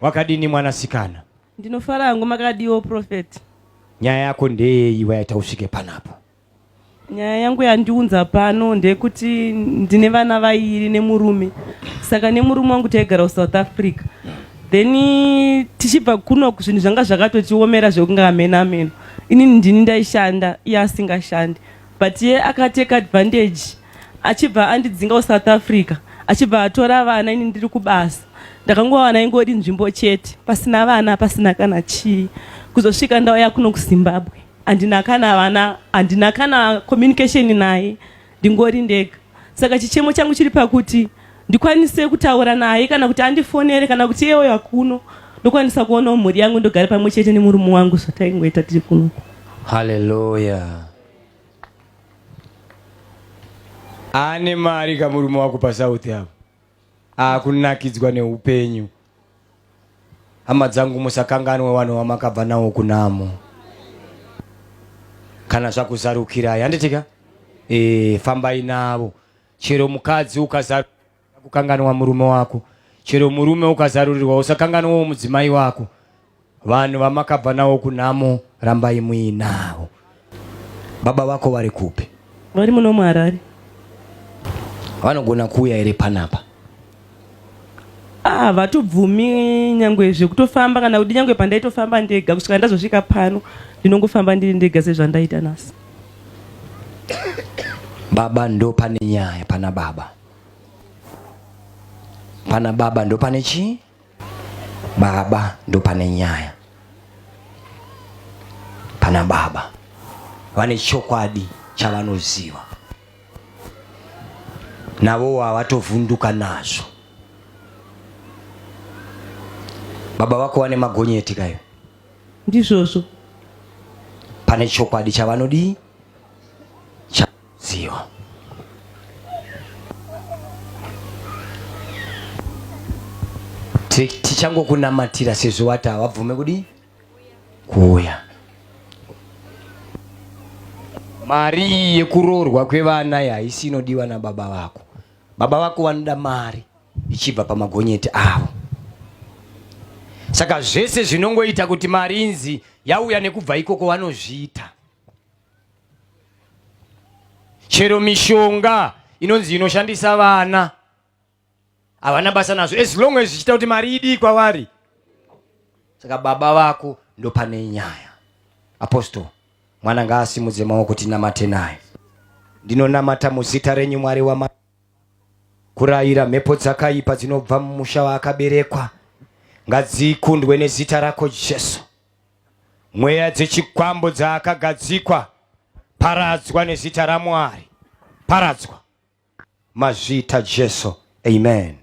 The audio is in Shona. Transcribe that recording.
Wakadini mwanasikana? Ndinofara hangu makadiwo prophet. Nyaya yako ndeyeyi waita usvike panapa? Nyaya yangu yandiunza pano ndeyekuti ndine vana vairi nemurume saka nemurume wangu taigara kusouth africa then tichibva kuno zvinhu zvanga zvakatotiomera zvekunge amene ameno inini ndini ndaishanda iye asingashandi but iye akateka advantage achibva andidzinga kusouth africa achibva atora vana ini ndiri kubasa ndakangowana ingori nzvimbo chete pasina vana pasina kana chii kuzosvika ndauya kuno kuzimbabwe handina kana vana handina kana communication naye ndingori ndega saka chichemo changu chiri pakuti ndikwanise kutaura naye kana kuti andifonere kana kuti iyewo yakuno ndokwanisa kuonawo mhuri yangu ndogare pamwe chete nemurume wangu zvataingoita tiri kunoku haleluya ane mari kamurume wako pasouth avo akunakidzwa neupenyu hama dzangu musakanganwe vanhu vamakabva nawo kunamo kana zvakuzarukirai handitika e, eh, fambai navo chero mukadzi ukazarukira Kukanganwa murume wako. Chero murume ukazarurirwa usakanganwawo mudzimai wako. Vanhu vamakabva nawo kunhamo rambai muinawo. Baba vako vari kupi? Vari muno muHarare. Vanogona kuuya here panapa? Ah, vatobvumi nyangwe zvekutofamba kana kuti nyangwe pandaitofamba ndega kusvika ndazosvika pano ndinongofamba ndiri ndega sezvandaita nasi. Baba ndo pane nyaya pana baba. Pana baba ndo pane chii? Baba ndo pane nyaya. Pana baba vane chokwadi chavanoziva, navowo havatovhunduka nazvo. Baba vako vane magonyeti kayo, ndizvozvo. Pane chokwadi chavanodii? Zio. tichangokunamatira sezvo wati hawabvume kudii kuuya mari iyi yekuroorwa kwevana haisi inodiwa nababa vako baba vako vanoda mari ichibva pamagonyeti avo saka zvese zvinongoita kuti mari inzi yauya nekubva ikoko vanozviita chero mishonga inonzi inoshandisa vana havana basa nazvo as long as zvichiita kuti mari idii kwavari saka baba vako ndopane nyaya apostle mwana ngaasimudze maoko tinamate naye ndinonamata muzita renyu mwari wama kurayira mhepo dzakaipa dzinobva mumusha waakaberekwa ngadzikundwe nezita rako jesu Mweya dzechikwambo dzaakagadzikwa, paradzwa nezita raMwari, paradzwa mazvita Jesu. Amen.